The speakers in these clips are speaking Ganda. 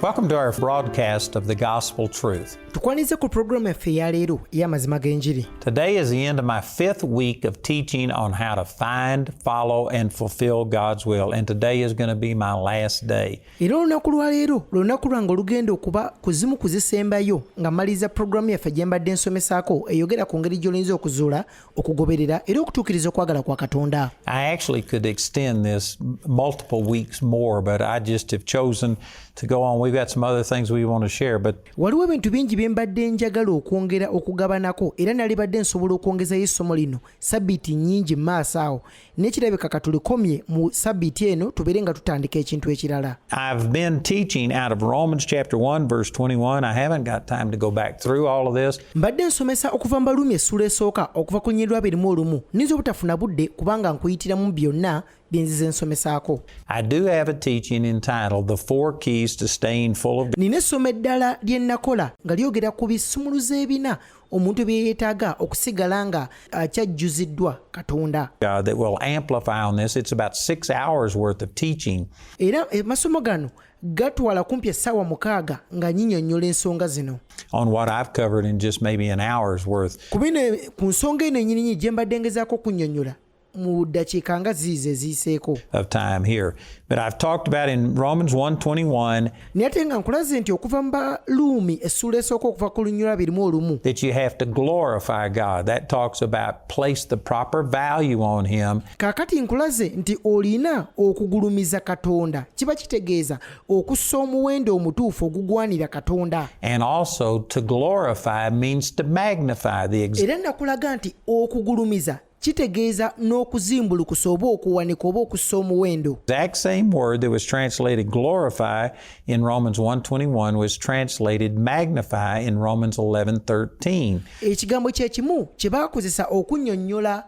Welcome to our broadcast of the gospel truth. Tukwanize ku programu yaffe ya leero ey'amazima g'enjiri. Today is the end of my fifth week of teaching on how to find, follow and fulfill God's will and today is going to be my last day. Era olunaku lwa leero lunaku lwange olugenda okuba ku zimu ku zisembayo nga mmaliriza programu yaffe gye mbadde nsomesaako eyogera ku ngeri gy'olinza okuzuula okugoberera era okutuukiriza okwagala kwa katonda I actually could extend this multiple weeks more but I just have chosen to go on we've got some other things we want to share but waliwo ebintu bingi bye mbadde njagala okwongera okugabanako era nalibadde nsobola okwongezayo essomo lino sabbiiti nnyingi mu maaso awo naye kirabika katulikomye mu sabbiiti eno tubeere nga tutandika ekintu ekirala I've been teaching out of Romans chapter 1 verse 21 I haven't got time to go back through all of this mbadde nsomesa okuva mbalumi essula esooka okuva ku nyirwa abiri mu olumu ninza obutafuna budde kubanga nkuyitiramu byonna byenzize nsomesaako nina essomo eddala lye nnakola nga lyogera ku bisumuluzo ebina omuntu bye yeetaaga okusigala nga uh, kyajjuziddwa katonda era emasomo eh, gano gatwala kumpi essaawa mukaaga nga nyinyonnyola ensonga zino ku bino ku nsonga eno enyininyini gye mbadde ngezaako okunnyonnyola mu ddakiika nga ziizo eziyiseeko naye ate nga nkulaze nti okuva mu baluumi essuula esooka okuva ku lunyula birimu olumu kaakati nkulaze nti olina okugulumiza katonda kiba kitegeeza okussa omuwendo omutuufu ogugwanira katonda era nakulaga nti okugulumiza kitegeeza n'okuzimbulukusa oba okuwanika oba okussa omuwendo exact same word that was translated glorify in romans 121 was translated magnify in romans 11:13 ekigambo kye kimu kye baakozesa okunnyonnyola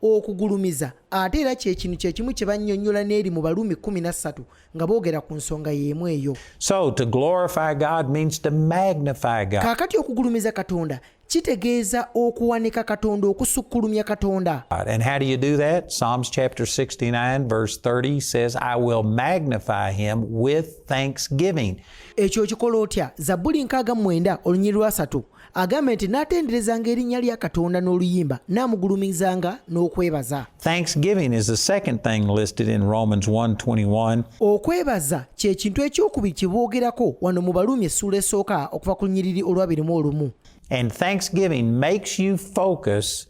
okugulumiza ate era kyekinu kyekimu kye bannyonnyola n'eri mu baluumi 13 nga boogera ku nsonga y'emu eyo so to glorify god means to magnify god kaakati okugulumiza katonda kitegeeza okuwanika katonda okusukkulumya katonda and how do you do that psalms chapter 69 verse 30 says i will magnify him with thanksgiving ekyo okikola otya zabbuli nkaaga mwenda olunyiri lwasatu agambye nti n'atenderezanga erinnya lya katonda n'oluyimba n'amugulumizanga n'okwebaza Thanksgiving is the second thing listed in Romans 1:21. Okwebaza kye kintu eky'okubiri kye boogerako wano mu Baruumi essuula esooka okuva ku lunyiriri olwabiri mu olumu. And thanksgiving makes you focus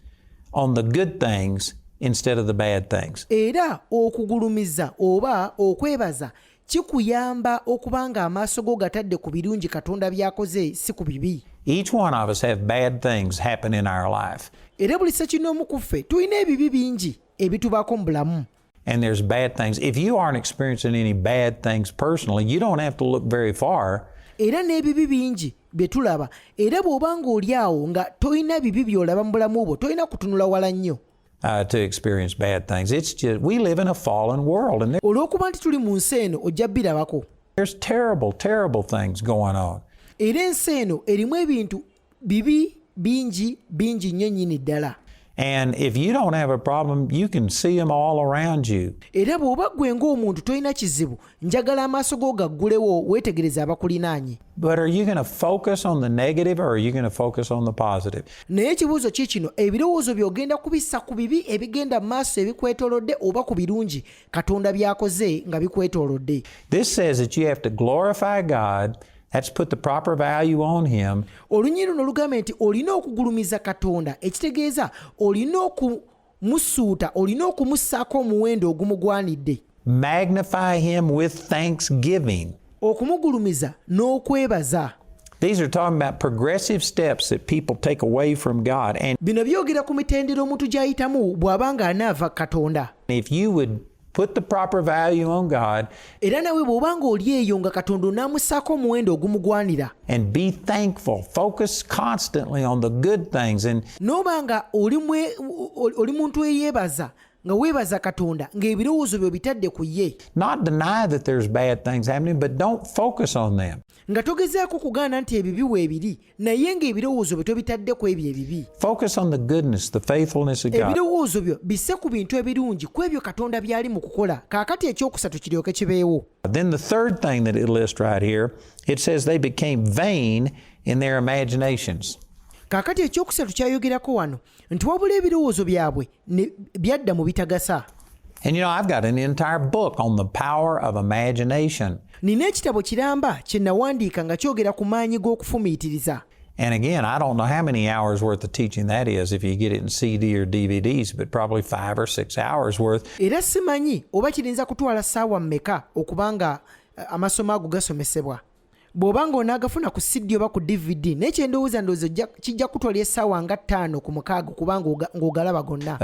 on the good things instead of the bad things. Era okugulumiza oba okwebaza kikuyamba okuba ng'amaaso go gatadde ku birungi katonda by'akoze si ku bibi Each one of us have bad things happen in our life. era buli sekinnoomu ku ffe tulina ebibi bingi ebitubaako mu bulamu And there's bad things. If you aren't experiencing any bad things personally, you don't have to look very far. era n'ebibi bingi bye tulaba era bw'oba ng'oli awo nga tolina bibi by'olaba mu bulamu bwo tolina kutunula wala nnyo Uh, to experience bad things. It's just we live in a fallen world and olwokuba nti tuli mu nsi eno ojja birabako there's terrible terrible things going on era ensi eno erimu ebintu bibi bingi bingi nnyo nyini ddala And if you don't have a problem, you can see them all around you. Era bw'oba ggwe ng'omuntu tolina kizibu njagala amaaso go gaggulewo weetegereze abakulinaanye naye ekibuuzo ki kino ebirowoozo by'ogenda kubissa ku bibi ebigenda mu maaso ebikwetoolodde oba ku birungi katonda by'akoze nga bikwetoolodde olunyiriri luno lugambye nti olina okugulumiza katonda ekitegeeza olina oku Musuuta olina okumussaako omuwendo ogumugwanidde. Magnify him with thanksgiving. Okumugulumiza n'okwebaza. These are talking about progressive steps that people take away from God and bino byogera ku mitendera omuntu gy'ayitamu bw'aba nga anaava Katonda. If you would Put the proper value on God. Era nawe bw'oba ng'oli eyo nga Katonda onaamussaako omuwendo ogumugwanira. And be thankful. Focus constantly on the good things and N'oba nga oli muntu eyeebaza nga weebaza katonda ng'ebirowoozo byo bitadde ku ye nga togezaako kugaana nti ebibi weebiri naye ng'ebirowoozo byo tobitadde ku ebyo ebibi ebirowoozo byo bisse ku bintu ebirungi ku ebyo katonda by'ali mu kukola kaakati ekyokusatu kiryoke kibeewo Then the third thing that it lists right here, it says they became vain in their imaginations. kaakati ekyokusatu kyayogerako wano nti wabula ebirowoozo byabwe byadda mu bitagasa And you know, I've got an entire book on the power of imagination. nina ekitabo kiramba kye nawandiika nga kyogera ku maanyi g'okufumiitiriza And again, I don't know how many hours worth of teaching that is if you get it in CD or DVDs, but probably five or six hours worth. era simanyi oba kirinza kutwala ssaawa mmeka okuba nga eh, amasomo ago gasomesebwa bw'oba nga onaagafuna ku CD oba ku DVD naye kye ndowooza ndowooza kijja kutwala essaawa nga ttaano ku mukaaga kuba ng'ogalaba gonna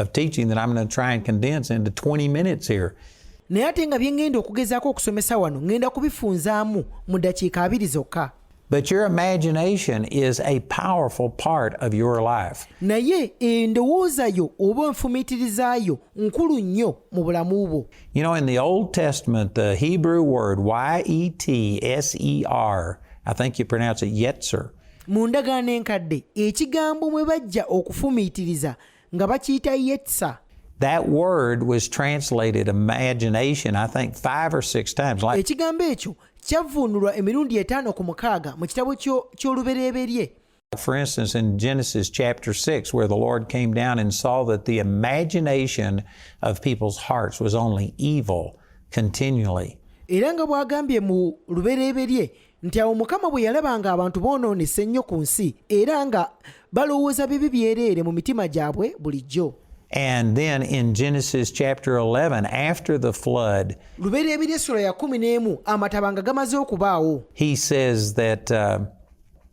naye ate nga bye ŋŋenda okugezaako okusomesa wano ŋŋenda kubifunzaamu mu ddakiika abiri zokka But your imagination is a powerful part of your life. Naye endowooza yo oba enfumiitiriza yo nkulu nnyo mu bulamu bwo. You know, in the Old Testament, the Hebrew word Y E T S E R, I think you pronounce it Yetzer. mu ndagaano enkadde ekigambo mwe bajja okufumiitiriza nga bakiyita yetsa That word was translated imagination, I think, five or six times. Like, ekigambo ekyo kyavvuunulwa emirundi etaano ku mukaaga mu kitabo ky'o- ky'olubereberye For instance, in Genesis chapter 6, where the Lord came down and saw that the imagination of people's hearts was only evil continually. era nga bw'agambye mu lubereberye nti awo mukama bwe yalaba nga abantu boonoonese ennyo ku nsi era nga balowooza bibi byereere mu mitima gyabwe bulijjo And then in Genesis chapter 11, after the flood, he says that uh,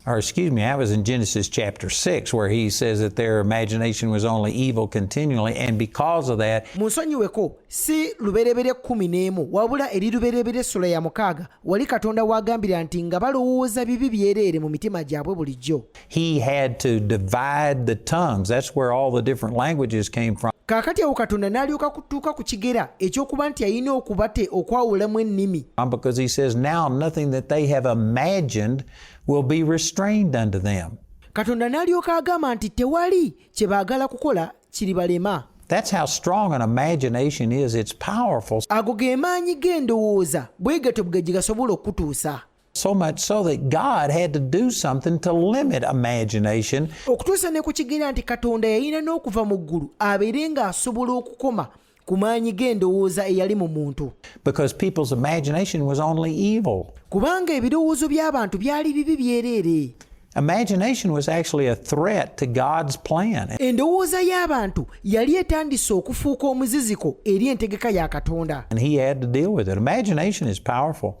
or excuse me, I was in Genesis chapter 6 where he says that their imagination was only evil continually and because of that Munsonyiweko si luberebere kumi n'emu wabula eri luberebere essula ya mukaaga wali Katonda w'agambira nti nga balowooza bibi byereere mu mitima gyabwe bulijjo he had to divide the tongues that's where all the different languages came from kaakati awo Katonda n'alyoka tuuka ku kigera ekyokuba nti alina okubate okwawulamu ennimi um, because he says now nothing that they have imagined will be restrained unto them katonda n'alyoka agamba nti tewali kye baagala kukola kiribalema That's how strong an imagination is. It's powerful. Ago ge maanyi g'endowooza bwe gatyo bwe gasobola okutuusa. So much so that God had to do something to limit imagination. Okutuusa ne ku kigera nti Katonda yalina n'okuva mu ggulu abeere ng'asobola okukoma ku maanyi g'endowooza eyali mu muntu. Because people's imagination was only evil. Kubanga ebirowoozo by'abantu byali bibi byereere. Imagination was actually a threat to God's plan. Endowooza y'abantu yali etandise okufuuka omuziziko eri entegeka ya Katonda. And he had to deal with it. Imagination is powerful.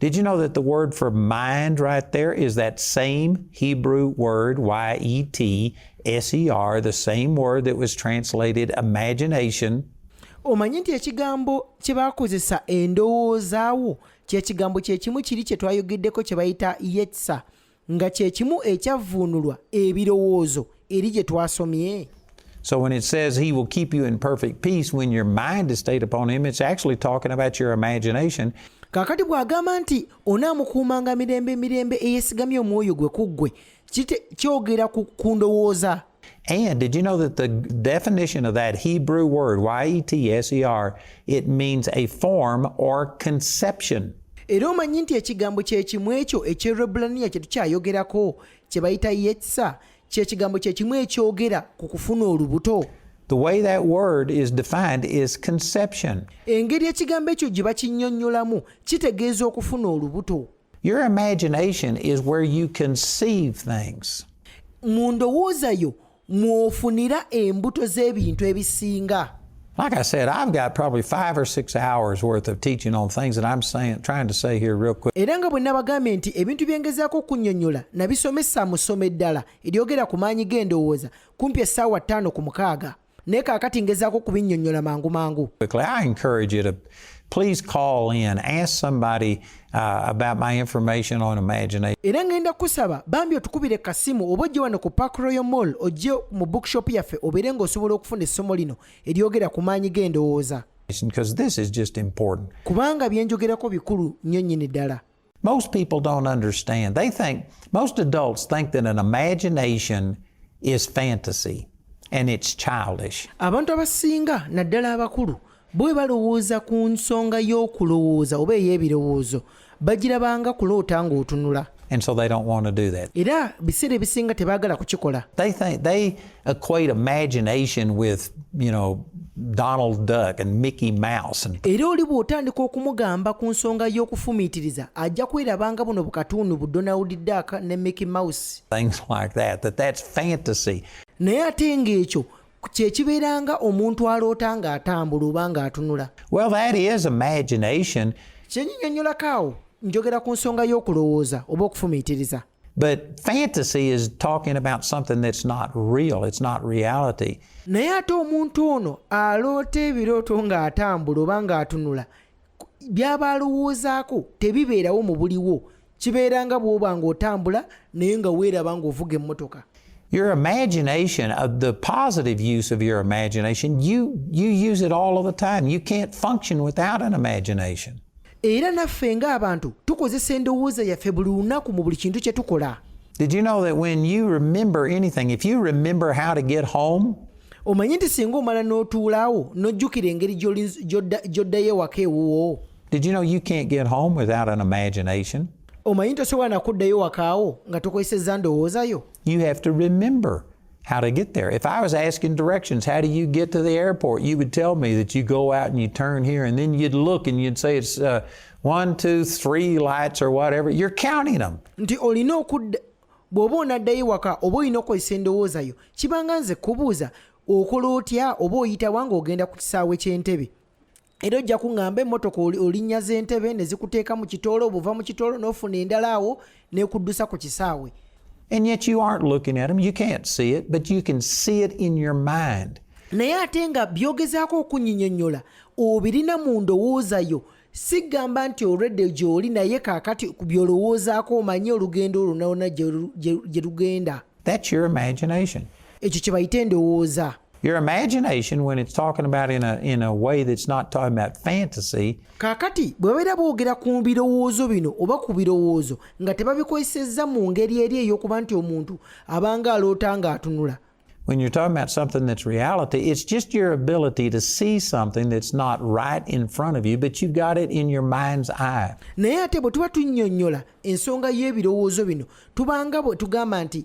Did you know that the word for mind right there is that same Hebrew word, Y E T S E R, the same word that was translated imagination? omanyi nti ekigambo kye bakozesa endowoozaawo kyekigambo kyekimu kiri kye twayogeddeko kye bayita yetsa nga kye kimu ekyavvuunulwa ebirowoozo eri gye twasomye So when it says he will keep you in perfect peace when your mind is stayed upon him, it's actually talking about your imagination. kakati bw'agamba nti onaamukuumanga mirembe mirembe eyesigamye omwoyo gwe ku ggwe kyogera ku ndowooza And did you know that the definition of that Hebrew word, Y E T S E R, it means a form or conception? era omanyi nti ekigambo kyekimu ekyo ekyerebulaniya kye tukyayogerako kye bayita yetsa kyekigambo kyekimu ekyogera ku kufuna olubuto The way that word is defined is conception. Engeri ekigambo ekyo gye bakinnyonnyolamu kitegeeza okufuna olubuto. Your imagination is where you conceive things. mu ndowooza yo mw'ofunira embuto z'ebintu ebisinga Like I said, I've got probably five or six hours worth of teaching on things that I'm saying, trying to say here real quick. era nga bwe nabagambye nti ebintu bye ngezaako okunnyonnyola nabisomesa mu ssomo eddala eryogera ku maanyi g'endowooza kumpi essaawa ttaano ku mukaaga naye kaakati ngezaako okubinnyonnyola mangu mangu please call in, ask somebody uh, about my information on imagination. era ngenda kusaba bambi otukubire kasimu oba ojje wano ku park royal mall ojje mu bookshop yaffe obeere ng'osobola okufuna essomo lino eryogera ku maanyi g'endowooza kubanga byenjogerako bikulu nnyo nnyini ddala Most people don't understand. They think, most adults think that an imagination is fantasy and it's childish. Abantu abasinga naddala abakulu bwe balowooza ku nsonga y'okulowooza oba ey'ebirowoozo bagirabanga kuloota ng'otunula and so they don't want to do that. Era biseera ebisinga tebaagala kukikola. They think they equate imagination with, you know, Donald Duck and Mickey Mouse and... era oli bw'otandika okumugamba ku nsonga y'okufumiitiriza ajja kwerabanga buno bukatundu bu Donald Duck ne Mickey Mouse things like that, that that's fantasy. naye ate ng'ekyo kyekibeeranga omuntu aloota ng'atambula oba ng'atunula well that is imagination kyenyinyonyolako awo njogera ku nsonga y'okulowooza oba okufumiitiriza But fantasy is talking about something that's not real, it's not reality. naye ate omuntu ono aloota ebirooto ng'atambula oba ng'atunula by'aba alowoozaako tebibeerawo mu buliwo kibeera nga bw'oba ng'otambula naye nga weeraba ng'ovuga emmotoka your imagination, uh, the positive use of your imagination, you, you use it all of the time. You can't function without an imagination. Era naffe ng'abantu tukozesa endowooza yaffe buli lunaku mu buli kintu kye tukola. Did you know that when you remember anything, if you remember how to get home, omanyi nti singa omala n'otuulaawo n'ojjukira engeri gy'oddayo ewaka ewuwo Did you know you can't get home without an imagination? omanyi tosobola nakuddayo wakaawo nga tokozesezza ndowooza yo You have to remember how to get there. If I was asking directions, how do you get to the airport? You would tell me that you go out and you turn here, and then you'd look and you'd say it's uh, one, two, three lights or whatever. You're counting them. nti olina okudda bw'oba onaddayo waka oba olina okukozesa endowooza yo kibanga nze kubuuza okola otya oba oyitawa ng'ogenda ku kisaawe ky'entebe era ojja kuŋŋamba emmotoka olinnya z'entebe ne zikuteeka mu kitoolo obuva mu kitoolo n'ofuna endala awo n'ekuddusa ku kisaawe And yet you aren't looking at them. You can't see it, but you can see it in your mind. naye ate nga byogezaako okunyinyonyola obirina mu ndowooza yo sigamba nti olwedde gy'oli naye kaakati ku byolowoozaako omanye olugendo olwonalwona gye lugenda ekyo kye bayita endowooza Your imagination, when it's talking about in a, in a way that's not talking about fantasy, kaakati bwe babeera boogera ku birowoozo bino oba ku birowoozo nga tebabikozesezza mu ngeri eri ey'okuba nti omuntu abanga aloota ng'atunula When you're talking about something that's reality, it's just your ability to see something that's not right in front of you, but you've got it in your mind's eye. naye ate bwe tuba tunnyonnyola ensonga y'ebirowoozo bino tubanga bwe tugamba nti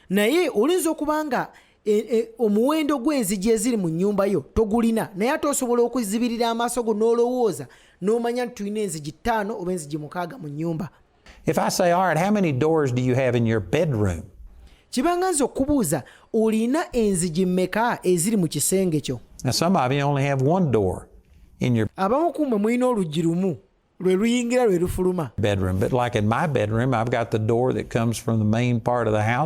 naye oyinza okuba nga e, e, omuwendo gw'enzigi eziri mu nnyumba yo togulina naye ate osobola okuzibirira amaaso go n'olowooza n'omanya nti tulina enzigi ttaano oba enzigi mukaaga mu nnyumba If I say, all right, how many doors do you have in your bedroom? kibanga nze okubuuza olina enzigi mmeka eziri mu kisenge kyo abamu ku mmwe mulina oluggi lumu lwe luyingira lwe lufuluma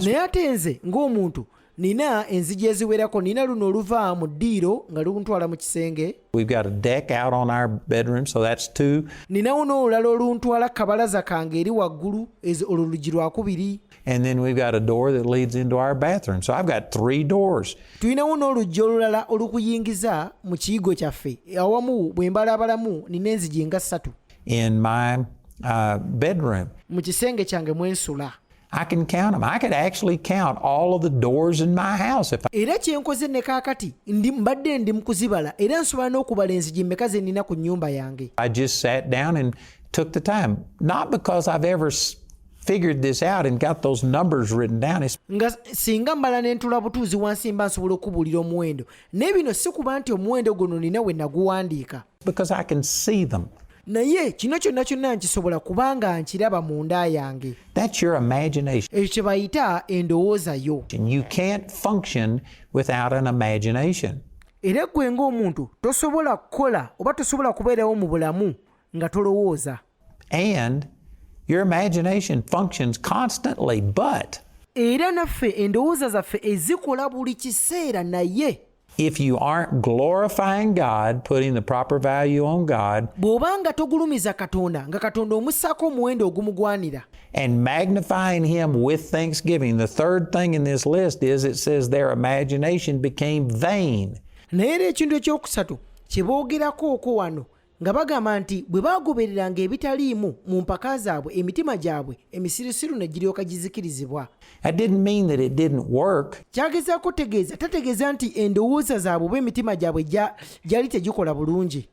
naye ate nze ng'omuntu nina enzigi eziwerako nina luno oluva mu ddiiro nga luntwala mu kisenge ninawo n'olulala oluntwala kabalaza kange eri waggulu olwo lugi lwakubiri And then we've got a door that leads into our bathroom. So I've got three doors. tulinawo n'oluggi olulala olukuyingiza mu kiyigo kyaffe awamu bwe mbalaabalamu nina enzigi nga ssatu in my uh, bedroom. mu kisenge kyange mwe nsula I can count them. I could actually count all of the doors in my house if I, era kye nkoze ne kaakati ndi mbadde ndi mu kuzibala era nsobola n'okubala enzigi mmeka ze nnina ku nnyumba yange I just sat down and took the time. Not because I've ever s- figured this out and got those numbers written down. nga singa mbala ne ntula butuuzi wansi mba nsobola okubuulira omuwendo naye bino si kuba nti omuwendo guno nina we naguwandiika because i can see them naye kino kyonna kyonna nkisobola kubanga nkiraba mu nda yange ekyo kye bayita endowooza yo era ggwe ng'omuntu tosobola kukola oba tosobola kubeerawo mu bulamu nga tolowooza And your imagination functions constantly, but era naffe endowooza zaffe ezikola buli kiseera naye If you aren't glorifying God, putting the proper value on God, bw'obanga togulumiza katonda nga katonda omussaako omuwendo ogumugwanira and magnifying Him with thanksgiving, the third thing in this list is it says their imagination became vain. naye era ekintu ekyokusatu kye boogerako okwo wano nga bagamba nti bwe baagobereranga ebitaliimu mu mpaka zaabwe emitima gyabwe emisirusiru ne giryoka gizikirizibwa kyagezaako okutegeeza tategeeza nti endowooza zaabwe oba emitima gyabwe gyali tegikola bulungi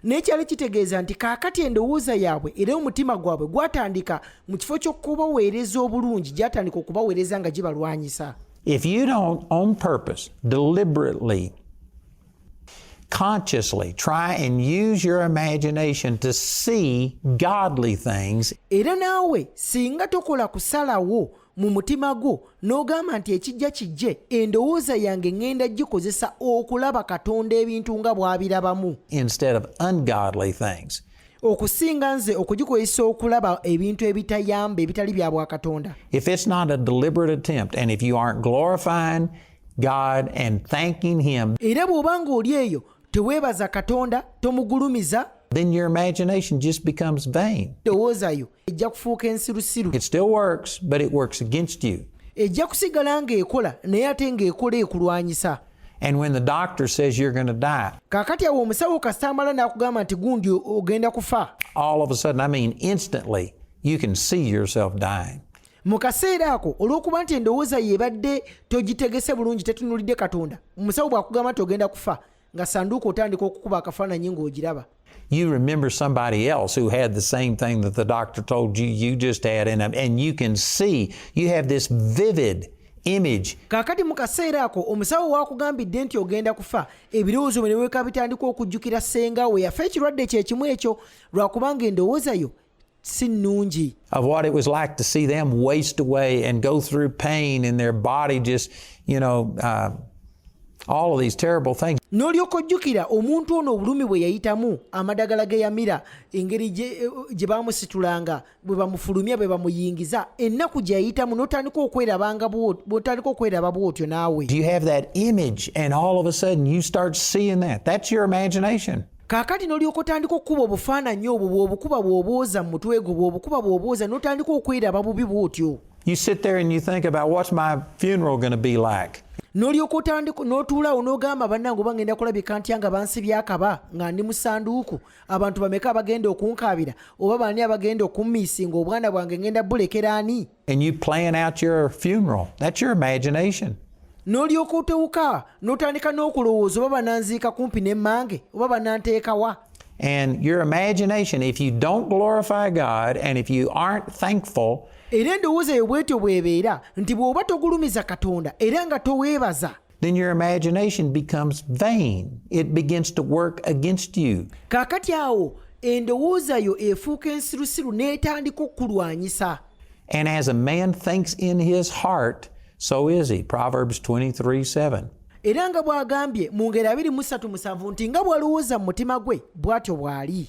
naye kyali kitegeeza nti kaakati endowooza yaabwe era omutima gwabwe gwatandika mu kifo ky'okubaweereza obulungi gyatandika okubaweereza nga gibalwanyisa If you don't, on purpose, deliberately, consciously try and use your imagination to see godly things. Era naawe singa tokola kusalawo mu mutima gwo n'ogamba nti ekijja kijje endowooza yange ŋŋenda gikozesa okulaba katonda ebintu nga bw'abirabamu instead of ungodly things okusinga nze okugikozesa okulaba ebintu ebitayamba ebitali bya bwakatonda if it's not a deliberate attempt and if you aren't glorifying god and thanking him era bw'oba ng'oli eyo teweebaza katonda tomugulumiza then your imagination just becomes vain. ejja kufuuka ensirusiru it still works but it works against you ejja kusigala ng'ekola naye ate ng'ekola ekulwanyisa And when the doctor says you're going to die, kakati awo omusawo kasita amala n'akugamba nti gundi ogenda kufa all of a sudden, I mean instantly, you can see yourself dying. mu kaseera ako olw'okuba nti endowooza ye ebadde togitegese bulungi tetunulidde katonda omusawo bw'akugamba nti ogenda kufa nga sanduuko otandika okukuba akafaananyi ng'ogiraba you remember somebody else who had the same thing that the doctor told you you just had in them and you can see you have this vivid image kakati mu kaseera ako omusawo waakugambidde nti ogenda kufa ebirowoozo bwe ne weeka bitandika okujjukira ssenga we yafa ekirwadde kye kimu ekyo lwakubanga endowooza yo si nnungi of what it was like to see them waste away and go through pain in their body just you know uh, all of these terrible things n'olyoka ojjukira omuntu ono obulumi bwe yayitamu amadagala ge yamira engeri gye bamusitulanga bwe bamufulumya bwe bamuyingiza ennaku gye yayitamu n'otandika okwerabanga bwotandika okweraba bwotyo naawe you have that image and all of a sudden you start seeing that that's your imagination kaakati n'olyoka otandika okukuba obufaananyi obwo bw'obukuba bw'obwoza mu mutwe gwo bw'obukuba bw'obwoza n'otandika okweraba bubi bw'otyo You sit there and you think about what's my funeral going to be like. n'olyoka otandika n'otuulawo n'ogamba bannange oba ngenda kulabika ntya nga bansi byakaba nga ndi mu sanduuku abantu bameka abagenda okunkaabira oba baani abagenda okummiisinga obwana bwange ngenda bulekera ani And you plan out your funeral. That's your imagination. n'olyoka otewuka n'otandika n'okulowooza oba bananziika kumpi n'emmange oba bananteekawa and your imagination if you don't glorify god and if you aren't thankful era endowooza eyo bwetyo bwebeera nti bw'oba togulumiza katonda era nga toweebaza Then your imagination becomes vain. It begins to work against you. Kakati awo endowooza yo efuuka ensirusiru n'etandika okukulwanyisa. And as a man thinks in his heart, so is he. Proverbs 23 7. era nga bw'agambye mu ngeri abiri mu ssatu musanvu nti nga bw'alowooza mu mutima gwe bw'atyo bw'ali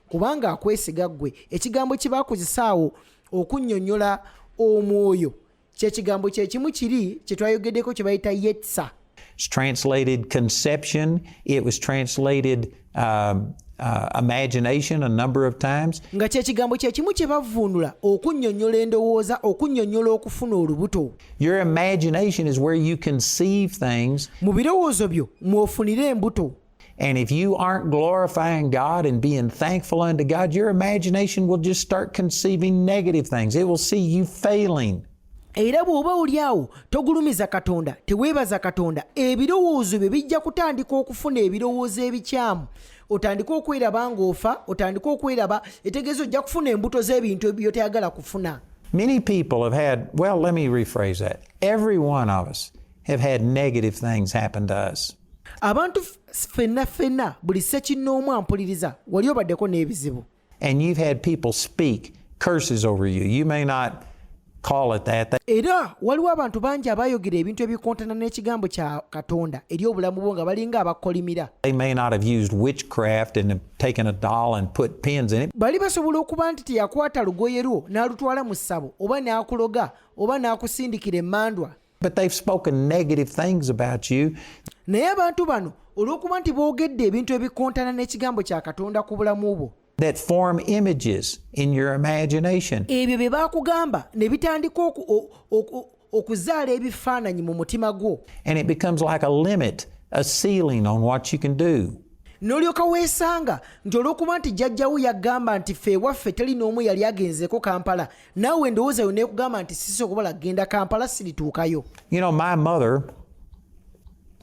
kubanga akwesiga ggwe ekigambo kye baakozesa awo okunnyonnyola omwoyo kyekigambo kyekimu kiri kye twayogeddeko kye bayita yetsa It's translated conception. It was translated uh, uh, imagination a number of times. nga kyekigambo kyekimu kye bavvuunula okunnyonnyola endowooza okunnyonnyola okufuna olubuto Your imagination is where you conceive things mu birowoozo byo mw'ofunira embuto And if you aren't glorifying God and being thankful unto God, your imagination will just start conceiving negative things. It will see you failing. era bw'oba oli awo togulumiza katonda teweebaza katonda ebirowoozo byo bijja kutandika okufuna ebirowoozo ebikyamu otandike okweraba ng'ofa otandike okweraba etegeeza ojja kufuna embuto z'ebintu byotayagala kufuna many people have had well let me rephrase that every one of us have had negative things happen to us abantu fenna fenna buli sekinnoomu ampuliriza wali obaddeko n'ebizibu and you've had people speak curses over you you may not call it that era waliwo abantu bangi abayogera ebintu ebikontana n'ekigambo kya katonda eri obulamu bwo nga balinga abakolimira they may not have used witchcraft and taken a doll and put pins in it bali basobola okuba nti teyakwata lugoye lwo n'alutwala mu ssabo oba n'akuloga oba n'akusindikira emmandwa But they've spoken negative things about you. naye abantu bano olw'okuba nti boogedde ebintu ebikontana n'ekigambo kya katonda ku bulamu bwo that form images in your imagination. ebyo bye baakugamba ne bitandika oku- o- oku- okuzaala ebifaananyi mu mutima gwo And it becomes like a limit, a ceiling on what you can do. n'olyoka weesanga nti olw'okuba nti jjajjawo yagamba nti ffe ewaffe teri n'omu yali agenzeeko kampala naawe endowooza yo neekugamba nti sisobola kugenda kampala sirituukayo you know, my mother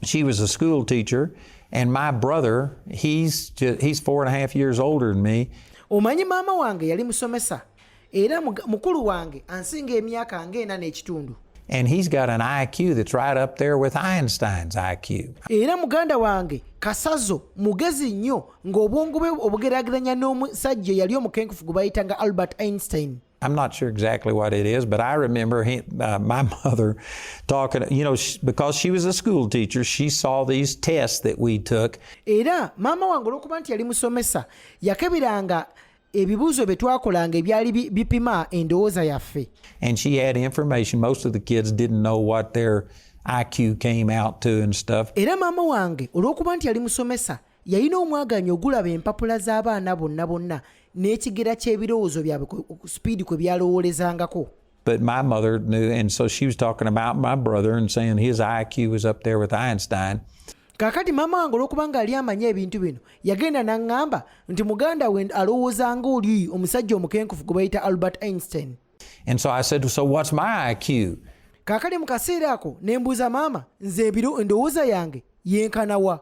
she was a school teacher and my brother he's, just, he's four and a half years older than me omanyi maama wange yali musomesa era mukulu wange ansinga emyaka nga ena n'ekitundu And he's got an IQ that's right up there with Einstein's IQ. Era muganda wange kasazo mugezi nnyo ng'obwongo bwe obugeraageranya n'omusajja eyali omukenkufu gwe bayitanga albert einstein I'm not sure exactly what it is, but I remember he, uh, my mother talking, you know, she, because she was a school teacher, she saw these tests that we took. Era mama wange olwokuba nti yali musomesa yakebiranga ebibuuzo bye twakolanga ebyali bipima endowooza yaffe. And she had information most of the kids didn't know what their IQ came out to and stuff. Era mama wange olwokuba nti yali musomesa yalina omwagaanya ogulaba empapula z'abaana bonna bonna n'ekigera ky'ebirowoozo byabwe sipiidi kwe byalowoolezangako But my mother knew, and so she was talking about my brother and saying his IQ was up there with Einstein. kakati maama wange olwokubanga ali amanyi ebintu bino yagenda naŋŋamba nti muganda we alowooza nga oli omusajja omukenkufu gwe bayita albert einstein and so i said so what's my iq kakati mu kaseera ako ne mbuuza maama nze ebiro endowooza yange yenkanawa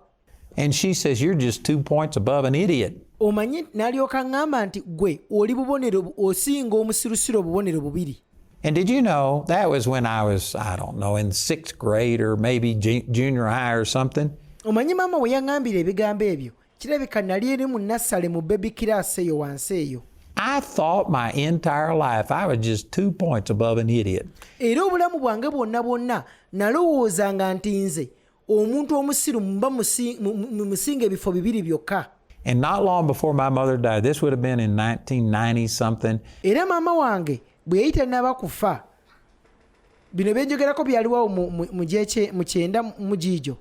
And she says, You're just two points above an idiot. omanyi n'alyoka ŋŋamba nti gwe oli bubonero osinga omusirusiru obubonero bubiri And did you know that was when I was, I don't know, in sixth grade or maybe junior high or something? omanyi maama we yaŋŋambira ebigambo ebyo kirabika nali eri mu nassale mu bebi kiraasi eyo wansi eyo I thought my entire life I was just two points above an idiot. era obulamu bwange bwonna bwonna nalowoozanga nti nze omuntu omusiru mba musinga ebifo bibiri byokka And not long before my mother died, this would have been in 1990 something. Era mama wange bwe yayita naba kufa bino byenjogerako byaliwawo mu gyekye mu kyenda mu giijo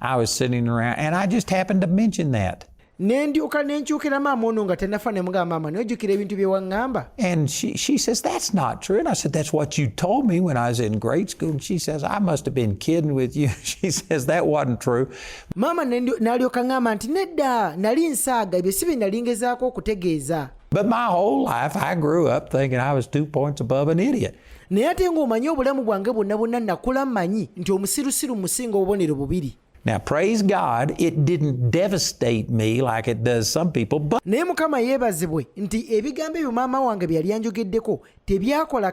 I was sitting around and I just happened to mention that. ne ndyoka ne nkyukira maama ono nga tanafa ne mugamba maama naye ojjukira ebintu bye waŋŋamba and she, she says that's not true and i said that's what you told me when i was in grade school and she says i must have been kidding with you she says that wasn't true maama n'alyoka ŋŋamba nti nedda nali nsaaga ebyo si bye nali ngezaako okutegeeza but my whole life i grew up thinking i was two points above an idiot naye ate ng'omanyi obulamu bwange bwonna bwonna nakula manyi nti omusirusiru musinga obubonero bubiri Now praise God it didn't devastate me like it does some people but Naye mukama yebazibwe nti ebigambo ebyo maama wange byali anjogeddeko tebyakola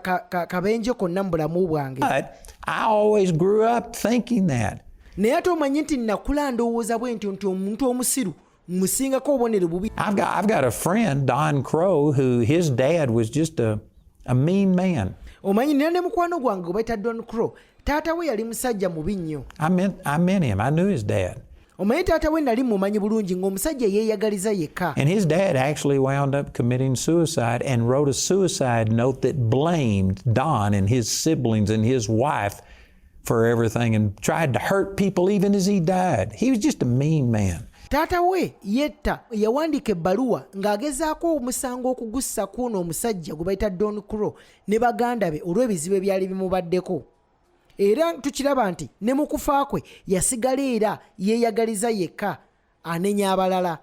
kabenje konna mu bulamu bwange. But I always grew up thinking that. Naye ate omanyi nti nakula ndowooza bwentyo nti omuntu omusiru musingako obubonero bubi I've got, I've got a friend Don Crow who his dad was just a, a mean man omanyi nina ne mukwano gwange gwe bayita Don Crow taata we yali musajja mubi nnyo I met, I met him I knew his dad omanyi taata we nali mumanyi bulungi ng'omusajja yeeyagaliza yekka and his dad actually wound up committing suicide and wrote a suicide note that blamed Don and his siblings and his wife for everything and tried to hurt people even as he died. He was just a mean man. taata we yetta yawandiika ebbaluwa ng'agezaako omusango okugussa kuuno omusajja gwe bayita don crow ne baganda be olw'ebizibu ebyali bimubaddeko era tukiraba nti ne mu kufa kwe yasigala era yeeyagaliza yekka anenya abalala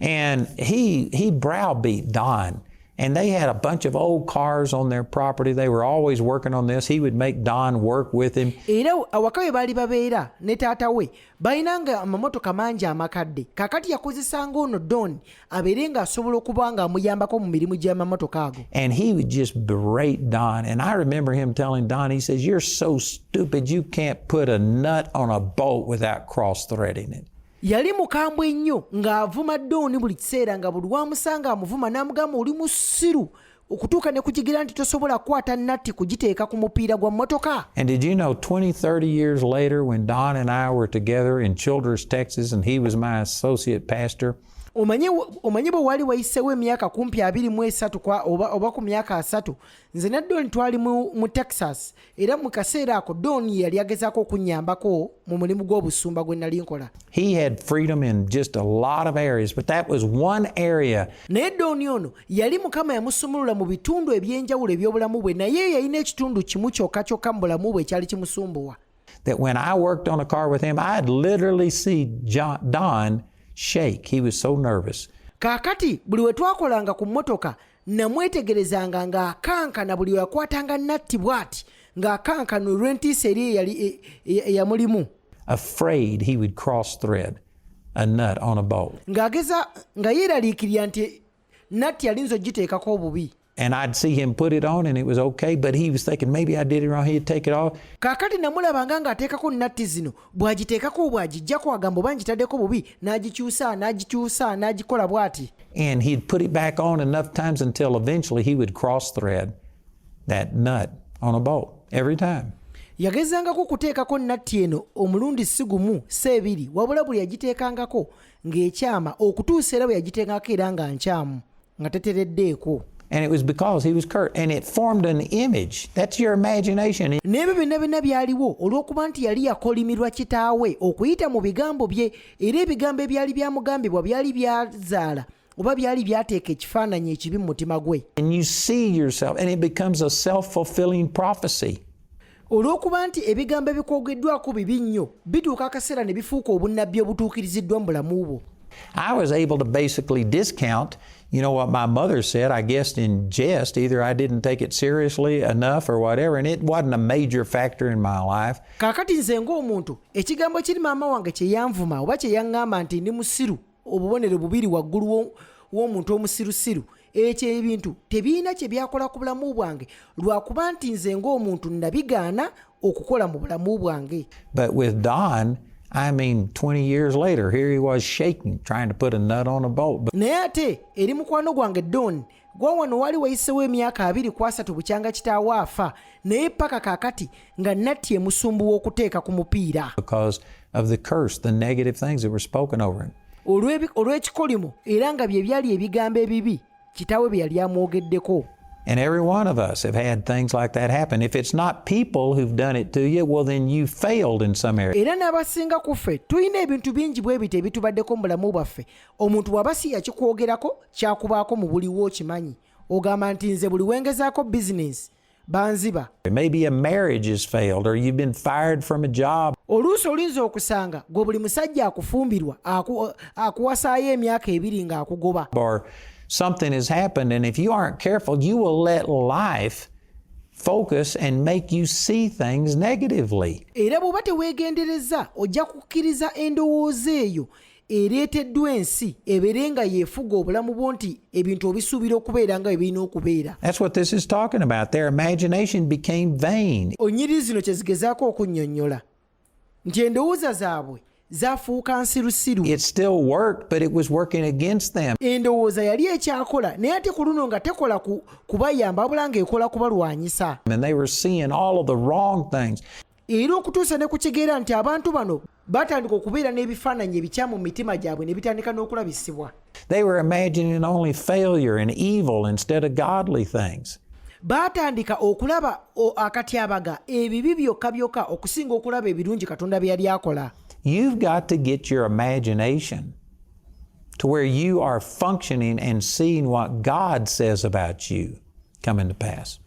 and he he browbeat Don and they had a bunch of old cars on their property. They were always working on this. He would make Don work with him. Era awaka we baali babeera ne taata we balinanga amamotoka mangi amakadde kakati yakozesanga ono Don abeere ng'asobola okuba ng'amuyambako mu mirimu gy'amamotoka ago and he would just berate don and i remember him telling don he says you're so stupid you can't put a nut on a bolt without cross threading it yali mukambwe nnyo ng'avuma dooni buli kiseera nga buli wamusanga amuvuma n'amugamba oli musiru okutuuka ne kukigira nti tosobola kukwata natti kugiteeka ku mupiira gwa mmotoka and did you know 2030 years later when don and i were together in childers texas and he was my associate pastor omanyi bwe wali wayiseewo emyaka kumpi abiri mu esatu oba ku myaka asatu nze ne don twali mu texas era mu kaseera ako don ye yali agezaako okunnyambako mu mulimu gw'obusumba gwe nali nkola naye don ono yali mukama yamusumulula mu bitundu eby'enjawulo eby'obulamu bwe naye yalina ekitundu kimu kyokka kyokka mu bulamu bwe ekyali kimusumbuwa that when I worked on a car with him, I'd literally see John, Don shake. He was so nervous. Kakati buli we twakolanga ku mmotoka namwetegerezanga ng'akankana buli weyakwatanga natti bw'ati ng'akankana olw'entiisa eri eyali e, e, eyamulimu ng'ageza nga yeeraliikirira nti natti alinza ogiteekako obubi And I'd see him put it on and it was okay, but he was thinking maybe I did it wrong. He'd take it off. Kakati namulabanga nga ateekako natti zino bw'agiteekako obw'agijjako agamba oba ngitaddeko bubi n'agikyusa n'agikyusa n'agikola bw'ati and he'd put it back on enough times until eventually he would cross thread that nut on a bolt every time yagezangako okuteekako natti eno omulundi si gumu si ebiri wabula buli yagiteekangako ng'ekyama okutuusa era bwe yagiteekangako era nga nkyamu nga tetereddeeko and it was because he was cursed and it formed an image that's your imagination n'ebyo byonna byonna byaliwo olw'okuba nti yali yakolimirwa kitaawe okuyita mu bigambo bye era ebigambo ebyali byamugambibwa byali byazaala oba byali byateeka ekifaananyi ekibi mu mutima gwe and you see yourself and it becomes a self-fulfilling prophecy olw'okuba nti ebigambo ebikwogeddwako bibi nnyo bituuka akaseera ne bifuuka obunnabbi obutuukiriziddwa mu bulamu bwo I was able to basically discount, you know, what my mother said, I guess in jest. Either I didn't take it seriously enough or whatever, and it wasn't a major factor in my life. Kakati nze ng'omuntu, ekigambo kiri maama wange kye yanvuma oba kye yaŋŋamba nti ndi musiru obubonero bubiri waggulu w'omuntu omusirusiru ekyo ebintu tebirina kye byakola ku bulamu bwange lwakuba nti nze ng'omuntu nabigaana okukola mu bulamu bwange but with don I mean, 20 years later, here he was shaking, trying to put a nut on a bolt. But... Naye ate eri mukwano gwange Don gwa wano wali wayisewo emyaka abiri ku asatu bukyanga kitaawo afa naye paka kakati nga natti emusumbu w'okuteeka ku mupiira olw'ekikolimo era nga bye byali ebigambo ebibi kitaawe bye yali amwogeddeko And every one of us have had things like that happen. If it's not people who've done it to you, well then you failed in some area. Era n'abasinga ku ffe tulina ebintu bingi bwe bityo ebitubaddeko mu bulamu bwaffe omuntu bwaba si yakikwogerako kyakubaako mu buliwo okimanyi ogamba nti nze buli wengezaako bizinensi banziba oluusi olinza okusanga gwe buli musajja akufumbirwa akuwasaayo emyaka ebiri ng'akugoba something has happened and if you aren't careful you will let life focus and make you see things negatively era bw'oba teweegendereza ojja kukkiriza endowooza eyo ereeteddwa ensi ebeere nga yeefuga obulamu bwo nti ebintu obisuubira okubeera nga ebirina okubeera onyiriri zino kye zigezaako okunnyonnyola nti endowooza zaabwe zafuuka nsirusiru endowooza yali ekyakola naye ate ku luno nga tekola kubayamba wabula ng'ekola kubalwanyisa era okutuusa ne ku kigera nti abantu bano batandika okubeera n'ebifaananyi ebikyamu mu mitima gyabwe ne bitandika n'okulabisibwa They were imagining only failure and evil instead of godly things. baatandika okulaba akatyabaga ebibi byokka byokka okusinga okulaba ebirungi katonda bye yali akola You've got to get your imagination to where you are functioning and seeing what God says about you. coming to pass.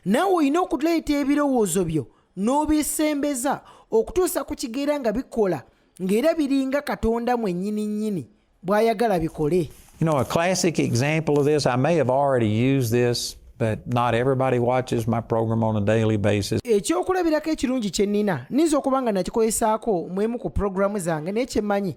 Naawe olina okuleeta ebirowoozo byo n'obisembeza okutuusa ku kigera nga bikola ng'era biringa Katonda mwennyini nnyini bw'ayagala bikole. You know, a classic example of this, I may have already used this, but not everybody watches my program on a daily basis. Ekyokulabirako ekirungi kye nnina, nniza okuba nga nakikolesaako mu emu ku programu zange naye kye mmanyi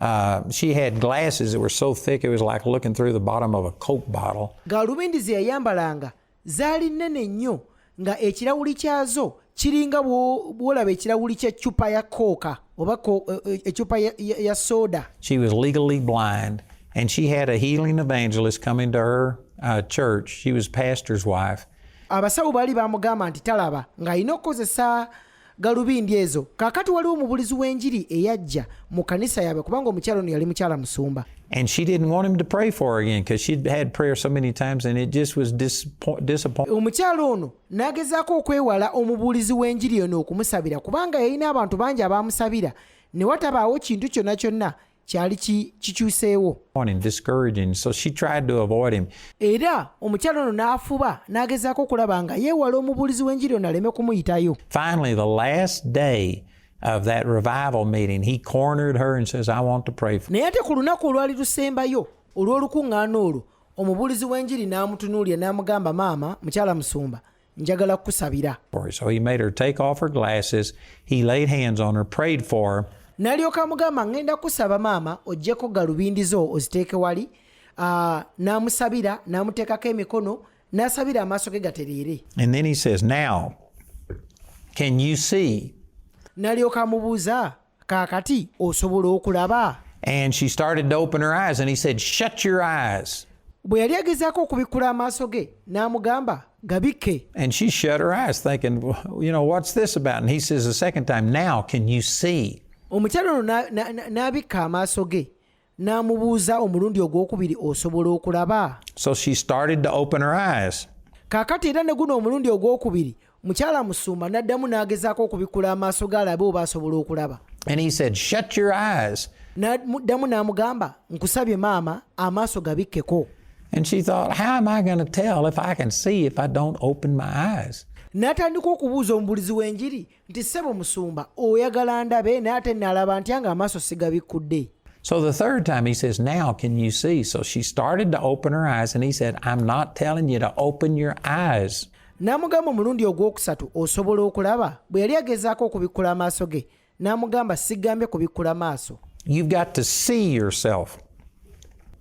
Uh, she had glasses that were so thick it was like looking through the bottom of a coke bottle. Galubindi ze yayambalanga zaali nnene nnyo nga ekirawuli kyazo kiringa bwolaba ekirawuli kya cupa ya kooka oba ecupa eh, eh, ya soda. She was legally blind and she had a healing evangelist coming to her uh, church. She was pastor's wife. Abasawo baali bamugamba nti talaba ng'alina okukozesa galubindi ezo kakati waliwo omubulizi w'enjiri eyajja mu kanisa yaabwe kubanga omukyalo ono yali mukyala musumba And she didn't want him to pray for her again because she'd had prayer so many times and it just was disappointing. Omukyalo ono n'agezaako okwewala omubuulizi w'enjiri ono okumusabira kubanga yalina abantu bangi abaamusabira ne watabaawo kintu kyonna kyonna kyali kikyuseewo era omukyala ono n'afuba n'agezaako okulaba nga yeewala omubuulizi w'enjiri ono aleme kumuyitayo of that revival meeting, he cornered her and says, I want to pray for you. naye ate ku lunaku olwali lusembayo olw'olukuŋŋaana olwo omubuulizi w'enjiri n'amutunuulira n'amugamba maama mukyala musumba njagala kukusabira so he made her take off her glasses he laid hands on her prayed for her n'alyoka amugamba ŋŋenda kusaba maama oggyeko galubindi zo oziteeke wali ah, n'amusabira n'amuteekako emikono n'asabira amaaso ge gatereere and then he says now can you see n'alyoka amubuuza kaakati osobola okulaba And she started to open her eyes, and he said, Shut your eyes. bwe yali agezaako okubikkula amaaso ge n'amugamba gabikke And she shut her eyes, thinking, "Well, You know, what's this about? And he says, The second time, now can you see? omukyala ono na- na- na- n'abikka amaaso ge n'amubuuza omulundi ogw'okubiri osobola okulaba so she started to open her eyes kaakati era ne guno omulundi ogw'okubiri mukyala musuuma n'addamu n'agezaako okubikkula amaaso ge alabe oba asobola okulaba and he said shut your eyes n'addamu n'amugamba nkusabye maama amaaso gabikkeko and she thought how am i going to tell if i can see if i don't open my eyes n'atandika okubuuza omubulizi w'enjiri nti ssebo musumba oyagala ndabe naye ate nalaba ntya nga amaaso sigabikkudde So the third time he says, Now can you see? So she started to open her eyes, and he said, I'm not telling you to open your eyes. n'amugamba omulundi ogwokusatu osobola okulaba bwe yali agezaako okubikkula amaaso ge n'amugamba sigambye kubikkula maaso You've got to see yourself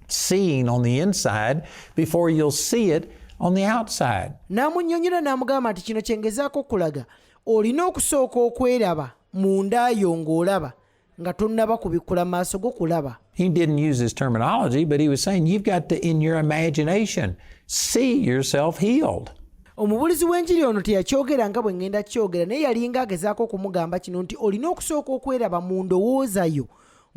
seeing on the inside before you'll see it on the outside. n'amunnyonnyola n'amugamba nti kino kye ngezaako okulaga olina okusooka okweraba mu nda yo ng'olaba nga tonnaba kubikkula maaso go kulaba He didn't use his terminology, but he was saying, You've got to, in your imagination, see yourself healed. omubulizi w'enjiri ono teyakyogera nga bwe ŋŋenda kyogera naye yalinga agezaako okumugamba kino nti olina okusooka okweraba mu ndowooza yo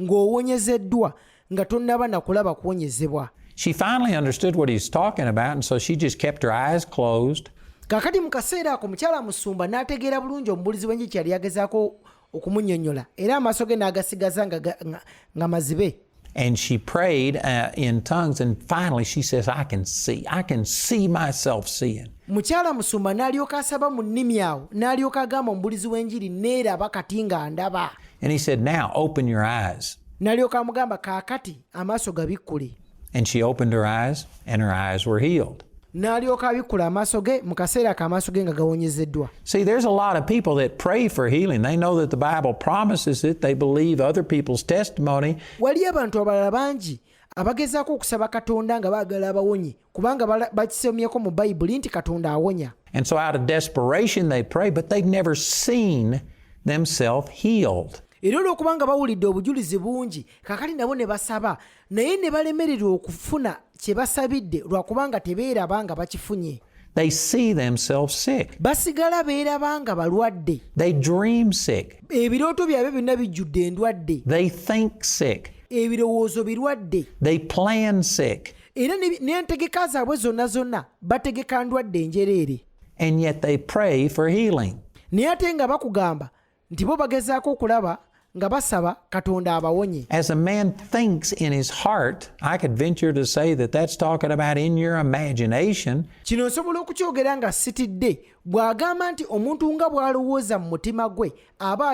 ng'owonyezeddwa nga tonnaba na kulaba kuwonyezebwa She finally understood what he's talking about, and so she just kept her eyes closed. kakati mu kaseera ako mukyala musumba n'ategeera bulungi omubulizi w'enjiki yali yagezaako okumunyonyola era amaaso ge n'agasigaza nga, nga, nga, nga mazibe and she prayed uh, in tongues and finally she says i can see i can see myself seeing mukyala musumba n'alyoka asaba mu nnimi awo n'alyoka agamba omubulizi w'enjiri neeraba kati nga ndaba And he said, Now open your eyes. n'alyoka amugamba kaakati amaaso gabikkule And she opened her eyes, and her eyes were healed. n'alyoka abikkula amaaso ge mu kaseera ako amaaso ge nga gawonyezeddwa See, there's a lot of people that pray for healing. They know that the Bible promises it, they believe other people's testimony, waliyo abantu abalala bangi abagezaako okusaba katonda nga baagala abawonye kubanga bakisomyeko mu bayibuli nti katonda awonya and so out of desperation they pray but they've never seen themselves healed era olwokubanga bawulidde obujulizi bungi kakali nabo ne basaba naye ne balemererwa okufuna kye basabidde lwakubanga tebeeraba nga bakifunye They see themselves sick. basigala beeraba nga balwadde They dream sick. ebirooto byabwe byonna bijjudde endwadde They think sick. ebirowoozo birwadde They plan sick. era n'entegeka zaabwe zonna zonna bategeka ndwadde enjereere and yet they pray for healing naye ate nga bakugamba nti bo bagezaako okulaba nga basaba katonda abawonye as a man thinks in his heart i could venture to say that that's talking about in your imagination kino nsobola okukyogera nga sitidde Bw'agamba nti omuntu nga bw'alowooza mu mutima gwe aba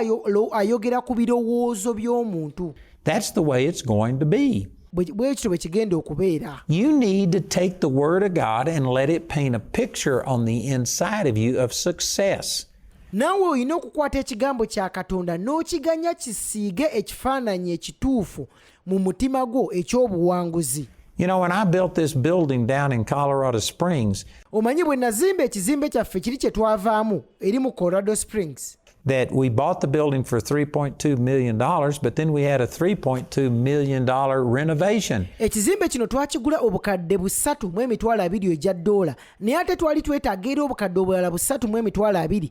ayogera ku birowoozo by'omuntu. That's the way it's going to be. bwekityo bwe kigenda okubeera you need to take the word of god and let it paint a picture on the inside of you of success naawe olina okukwata ekigambo kya katonda n'okiganya kisiige ekifaananyi ekituufu mu mutima gwo ekyobuwanguzi You know, when I built this building down in Colorado Springs, omanyi bwe nazimba ekizimbe kyaffe kiri kye twavaamu eri mu Colorado Springs that we bought the building for $3.2 million, but then we had a $3.2 million renovation. ekizimbe kino twakigula obukadde busatu mu emitwalo abiri egya ddoola naye ate twali twetaaga era obukadde obulala busatu mu emitwalo abiri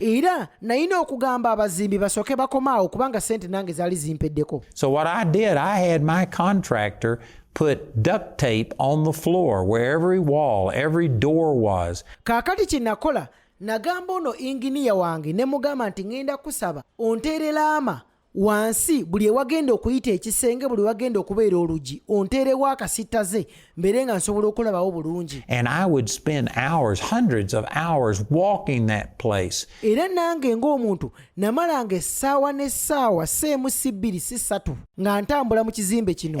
era nayina okugamba abazimbi basooke bakomaawo kubanga sente nange zaali zimpeddeko so what i did i had my contractor put duct tape on the floor where every wall every door was kaakati kye nakola nagamba ono inginiya wange ne mugamba nti ŋŋenda kusaba onteerelaama wansi buli ewagenda okuyita ekisenge buli wagenda okubeera olugi onteerewo akasittaze mbeere nga nsobola okulabawo bulungi era nange ng'omuntu namalanga essaawa n'essaawa si emu si bbiri si ssatu nga ntambula mu kizimbe kino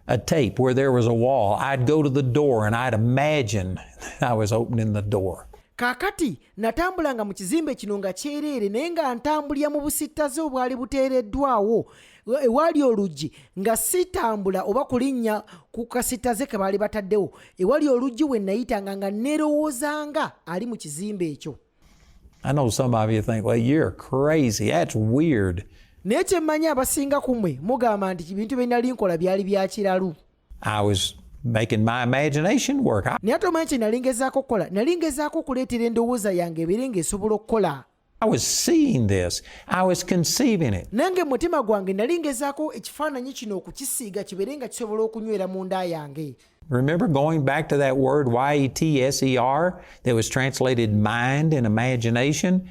a tape where there was a wall, I'd go to the door and I'd imagine I was opening the door. Kakati natambulanga mu kizimbe kino nga kyereere naye nga ntambulira mu busittaze obwali buteereddwawo ewali oluggi nga sitambula oba kulinnya ku kasitaze ke baali bataddewo ewali oluggi we nayitanga nga nerowoozanga ali mu kizimbe ekyo I know some of you think, well, you're crazy. That's weird. naye kyemmanyi abasinga ku mwe mugamba nti bintu bye nali nkola byali bya kiralu I was making my imagination work. I, naye ate omanyi kye nali ngezaako okukola nali ngezaako okuleetera endowooza yange ebeere ng'esobola okukola I was seeing this. I was conceiving it. nange mutima gwange nali ngezaako ekifaananyi kino okukisiiga kibeere nga kisobola okunywera mu nda yange Remember going back to that word Y E T S E R that was translated mind and imagination?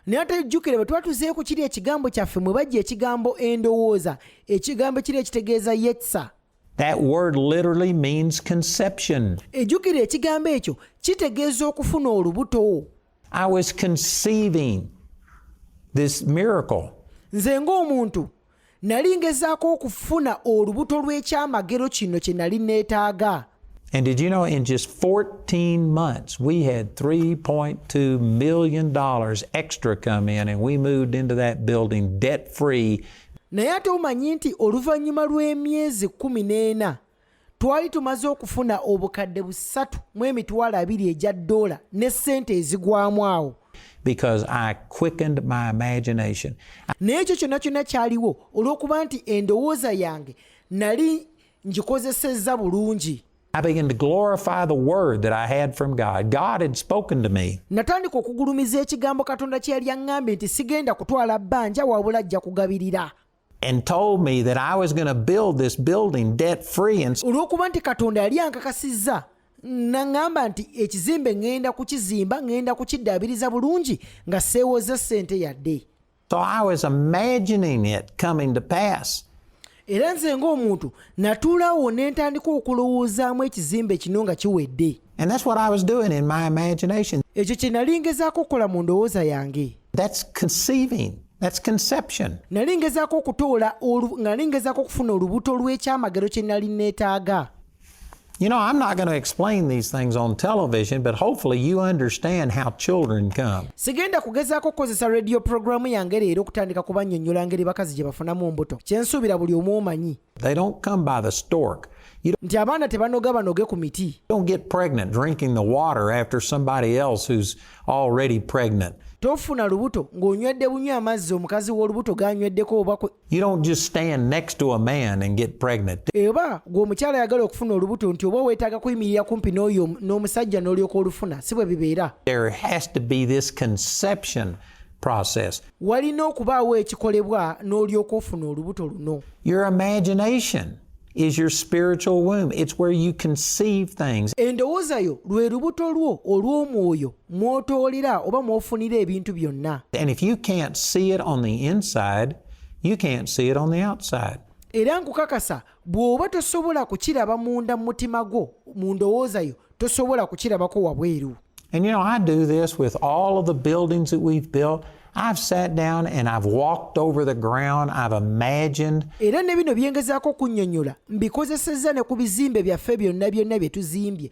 naye ate jjukira bwe twatuzeeyo ku kiri ekigambo kyaffe mwe bajja ekigambo endowooza ekigambo kiri ekitegeeza yetsa That word literally means conception. Ejukira ekigambo ekyo kitegeeza okufuna olubuto. I was conceiving this miracle. Nze ng'omuntu nali ngezaako okufuna olubuto lw'ekyamagero kino kye nali neetaaga. And did you know in just 14 months, we had $3.2 million extra come in and we moved into that building debt free. naye ate omanyi nti oluvannyuma lw'emyezi kumi n'ena twali tumaze okufuna obukadde busatu mu emitwalo abiri egya ddoola ne ssente ezigwamu awo naye ekyo kyonna kyonna kyaliwo olw'okuba nti endowooza yange nali ngikozesezza bulungi I began to glorify the word that I had from God. God had spoken to me. Natandika okugulumiza ekigambo Katonda kye yali aŋŋambye nti sigenda kutwala bbanja wabula ajja kugabirira. And told me that I was going to build this building debt free and olw'okuba nti Katonda yali ankakasizza naŋŋamba nti ekizimbe ŋŋenda kukizimba ŋŋenda kukiddaabiriza bulungi nga seewozza ssente yadde. So I was imagining it coming to pass. era nze ng'omuntu natuulawo ne ntandika okulowoozaamu ekizimbe kino nga kiwedde ekyo kye nali ngezaako okukola mu ndowooza yange nali ngezaako okutoola nga nali ngezaako okufuna olubuto lw'ekyamagero kye nali neetaaga You know, I'm not going to explain these things on television, but hopefully you understand how children come. Sigenda kugezaako kukozesa radio programu yange leero okutandika kubannyonnyola engeri bakazi gye bafunamu mbuto. Kye nsuubira buli omu omanyi. They don't come by the stork. nti abaana tebanoga banoge ku miti don't get pregnant drinking the water after somebody else who's already pregnant tofuna lubuto ng'onywedde bunywa amazzi omukazi w'olubuto g'anyweddeko oba You don't just stand next to a man and get pregnant. Eba gwo mukyala yagala okufuna olubuto nti oba wetaaga kuyimirira kumpi n'oyo n'omusajja n'olyoka olufuna si bwe bibeera. There has to be this conception process. Walina okubaawo ekikolebwa n'olyoka ofuna olubuto luno. Your imagination is your spiritual womb. It's where you conceive things. Endowooza yo lwe lubuto lwo olw'omwoyo. mwotoolera oba mwofunira ebintu byonna era nkukakasa bw'oba tosobola kukiraba munda mu mutima gwo mu ndowooza yo tosobola kukirabako wabweru And you know, I do this with all of the buildings that we've built. I've sat down and I've walked over the ground, I've imagined. Era ne bino byengezaako okunnyonnyola mbikozesezza ne ku bizimbe byaffe byonna byonna bye tuzimbye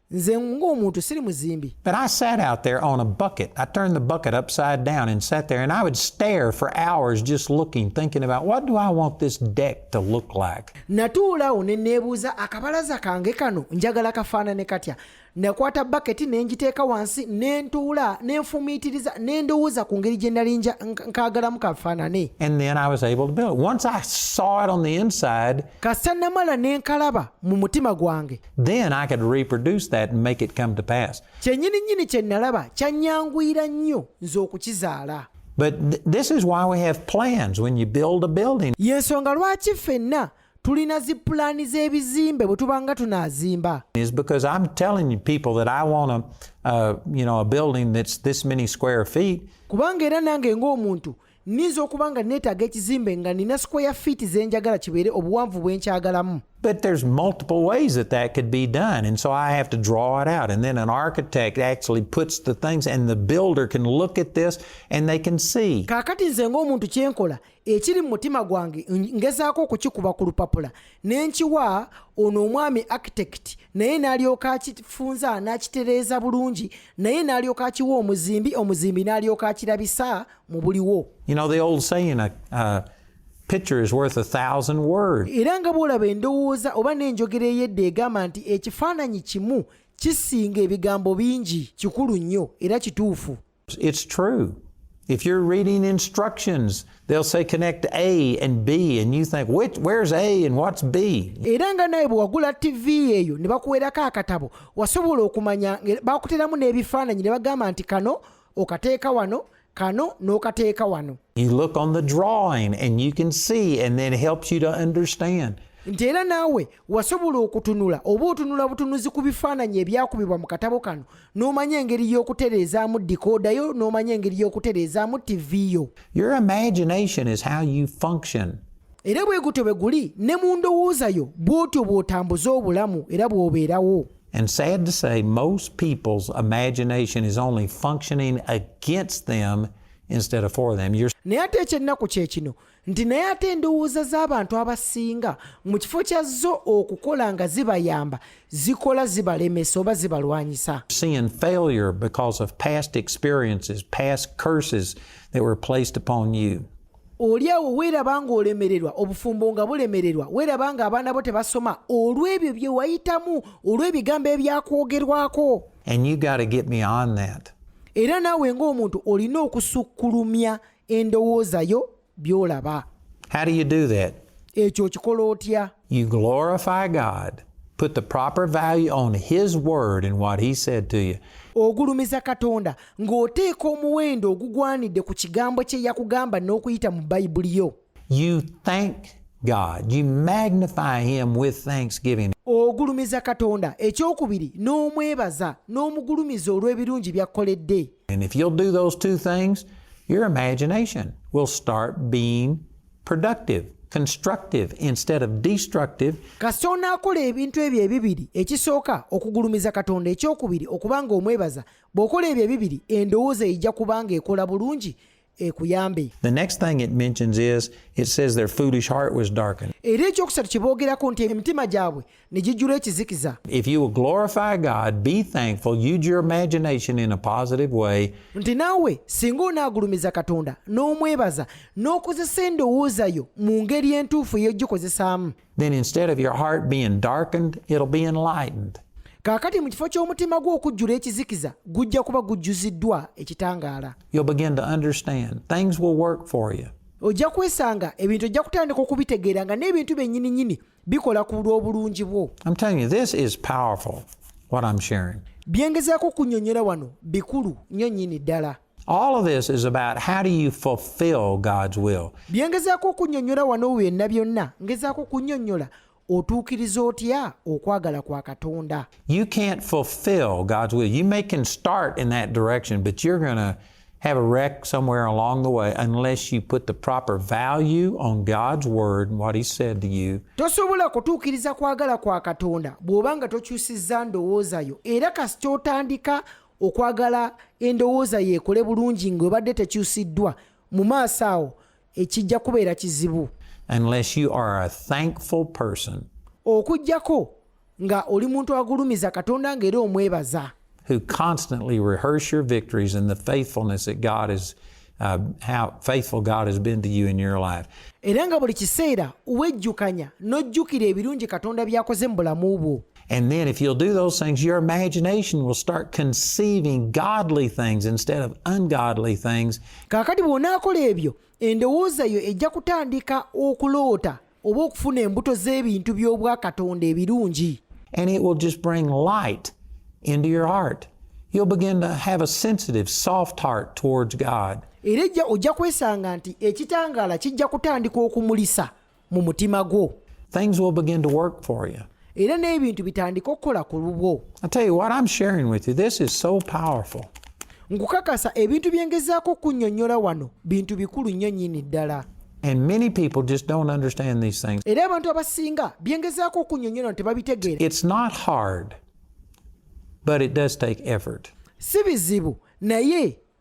nze ng'omuntu siri muzimbi But I sat out there on a bucket. I turned the bucket upside down and sat there, and I would stare for hours just looking, thinking about what do I want this deck to look like. natuulawo ne neebuuza akabalaza kange kano njagala kafaanane katya nakwata baketi ne ngiteeka wansi ne ntuula ne nfumiitiriza ne ndowooza ku ngeri gye nali nja- nk- nkaagalamu kafaanane And then I was able to build it. Once I saw it on the inside, kasita namala ne nkalaba mu mutima gwange Then I could reproduce that and make it come to pass. Kyennyini nnyini kye nalaba kyanyanguyira nnyo nze okukizaala. But th this is why we have plans when you build a building. Y'ensonga lwaki ffenna tulina zi pulaani z'ebizimbe bwe tuba nga tunaazimba is because i'm telling people that i want a, uh, you know, a building that's this many square feet kubanga era nange ng'omuntu nninza okuba nga neetaaga ekizimbe nga nina sikweya fiiti ze njagala kibeere obuwanvu bwe nkyagalamu But there's multiple ways that that could be done. And so I have to draw it out. And then an architect actually puts the things and the builder can look at this and they can see. Kakati nze ng'omuntu kye nkola ekiri mu mutima gwange ngezaako okukikuba ku lupapula ne nkiwa ono omwami architect naye n'alyoka akifunza n'akitereeza bulungi naye n'alyoka akiwa omuzimbi omuzimbi n'alyoka akirabisa mu buliwo you know the old saying a, uh, picture is worth a thousand words era nga bw'olaba endowooza oba n'enjogera ey'edda egamba nti ekifaananyi kimu kisinga ebigambo bingi kikulu nnyo era kituufu it's true If you're reading instructions, they'll say connect A and B and you think which where's A and what's B. Era nga naye bwewagula TV eyo ne bakuwerako akatabo wasobola okumanya bakuteramu n'ebifaananyi ne bagamba nti kano okateeka wano kano n'okateeka wano you look on the drawing and you can see and then helps you to understand nti era naawe wasobola okutunula oba otunula butunuzi ku bifaananyi ebyakubibwa mu katabo kano n'omanya engeri y'okutereezaamu dikooda yo n'omanya engeri y'okutereezaamu tivi yo your imagination is how you function era bwe gutyo bwe guli ne mu ndowooza yo bw'otyo bw'otambuza obulamu era bw'obeerawo And sad to say, most people's imagination is only functioning against them instead of for them. You're... naye ate ekyennaku kye kino nti naye ate endowooza z'abantu abasinga mu kifo kya zo okukola nga zibayamba zikola zibalemesa oba zibalwanyisa seeing failure because of past experiences past curses that were placed upon you oli awo weeraba ng'olemererwa obufumbo nga bulemererwa weeraba ng'abaana bo tebasoma olw'ebyo bye wayitamu olw'ebigambo ebyakwogerwako era naawe ng'omuntu olina okusukkulumya endowooza yo by'olaba ekyo okikola otya You glorify God. Put the proper value on His word and what He said to you. ogulumiza katonda ng'oteeka omuwendo ogugwanidde ku kigambo kye yakugamba n'okuyita mu bayibuli yo you thank god you magnify him with thanksgiving ogulumiza katonda ekyokubiri n'omwebaza n'omugulumiza olw'ebirungi byakkoledde and if you'll do those two things your imagination will start being productive constructive instead of destructive kasita onaakola ebintu ebyo ebibiri ekisooka okugulumiza katonda ekyokubiri okubanga omwebaza bw'okola ebyo ebibiri endowooza ejja kubanga ekola bulungi ekuyambe the next thing it mentions is it says their foolish heart was darkened era ekyokusatu kye boogerako nti emitima gyabwe ne gijjula ekizikiza nti naawe singa onaagulumiza katonda n'omwebaza n'okozesa endowooza yo mu ngeri entuufu ey'ogikozesaamu kaakati mu kifo ky'omutima gwo okujjula ekizikiza gujja kuba gujjuziddwa ekitangaala ojja kwesanga ebintu ojja kutandika okubitegeera nga n'ebintu byennyininyini bikola ku lw'obulungi bwo byengezaako okunyonyola wano bikulu nnyo nnyini ddala All of this is about how do you fulfill God's will. Byengezaako okunyonyola wano byonna byonna ngezaako okunyonyola otuukiriza otya okwagala kwa katonda you can't fulfill god's will you may can start in that direction but you're gonna have a wreck somewhere along the way unless you put the proper value on God's word and what he said to you. Tosobola kutuukiriza kwagala kwa Katonda bw'oba nga tokyusizza ndowooza yo era kasita otandika okwagala endowooza yo ekole bulungi ng'obadde tekyusiddwa mu maaso awo ekijja kubeera kizibu. Unless you are a thankful person. Okujjako nga oli muntu agulumiza katonda nga era omwebaza who constantly rehearse your victories and the faithfulness that god is Uh, how faithful God has been to you in your life. era nga buli kiseera wejjukanya n'ojjukira ebirungi katonda by'akoze mu bulamu bwo And then, if you'll do those things, your imagination will start conceiving godly things instead of ungodly things. oba okufuna embuto z'ebintu by'obwakatonda ebirungi and it will just bring light into your heart you'll begin to have a sensitive soft heart towards god era ejja ojja kwesanga nti ekitangaala kijja kutandika okumulisa mu mutima gwo things will begin to work for you era n'ebintu bitandike okukola ku lubwo nkukakasa ebintu bye ngezaako okunnyonnyola wano bintu bikulu nnyo nnyini ddala And many people just don't understand these things. It's not hard, but it does take effort.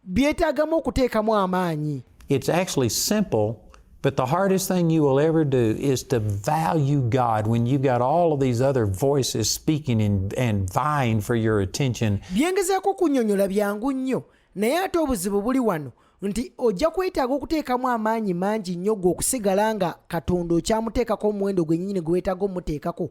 byetaagamu okuteekamu amaanyi It's actually simple But the hardest thing you will ever do is to value God when you've got all of these other voices speaking and, and vying for your attention. Byengezako kunyonyola byangu nnyo naye ate obuzibu buli wano nti ojja kwetaaga okuteekamu amaanyi mangi nnyo gwe okusigala nga katonda okyamuteekako omuwendo gwennyini gwe weetaaga omuteekako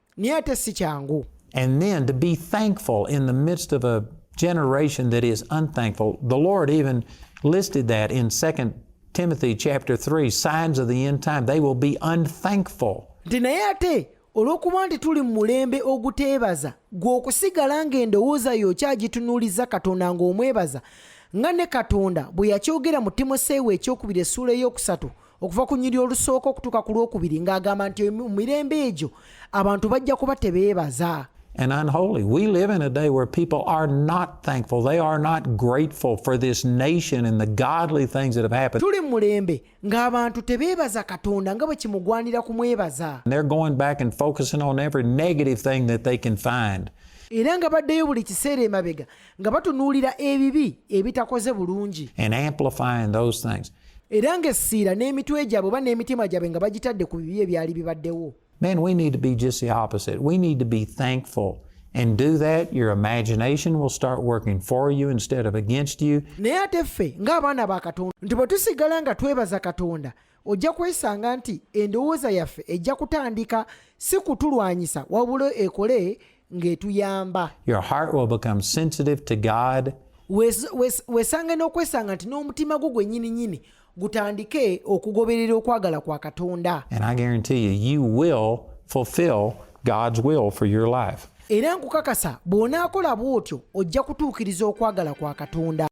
naye ate si kyangu and then to be thankful in the midst of a generation that is unthankful the lord even listed that in 2 timothy chapter 3 signs of the end time they will be unthankful nti naye ate olw'okuba nti tuli mu mulembe oguteebaza gwe okusigala ng'endowooza yo okyagitunuuliza katonda ng'omwebaza nga ne katonda bwe yakyogera mu timoseewo ekyokubiri essuula ey'okusatu okuva ku nyiri olusooka okutuuka ku lwokubiri ng'agamba nti mu mirembe egyo abantu bajja kuba tebeebaza and unholy. We live in a day where people are not thankful. They are not grateful for this nation and the godly things that have happened. They're going back and focusing on every negative thing that they can find. era nga baddeyo buli kiseera emabega nga batunuulira ebibi ebitakoze bulungi era ng'essiira n'emitwe gyabwe oba n'emitima gyabwe nga bagitadde ku bibi ebyali bibaddewo Man, we need to be just the opposite. We need to be thankful. and do that, your imagination will start working for you instead of against you. naye ate ffe ng'abaana ba katonda nti bwe tusigala nga twebaza katonda ojja kwesanga nti endowooza yaffe ejja kutandika si kutulwanyisa wabula ekole ng'etuyamba wesange n'okwesanga nti n'omutima gwo gwennyini nyini gutandike okugoberera okwagala kwa katonda era nkukakasa bw'onaakola bw'otyo ojja kutuukiriza okwagala kwa katonda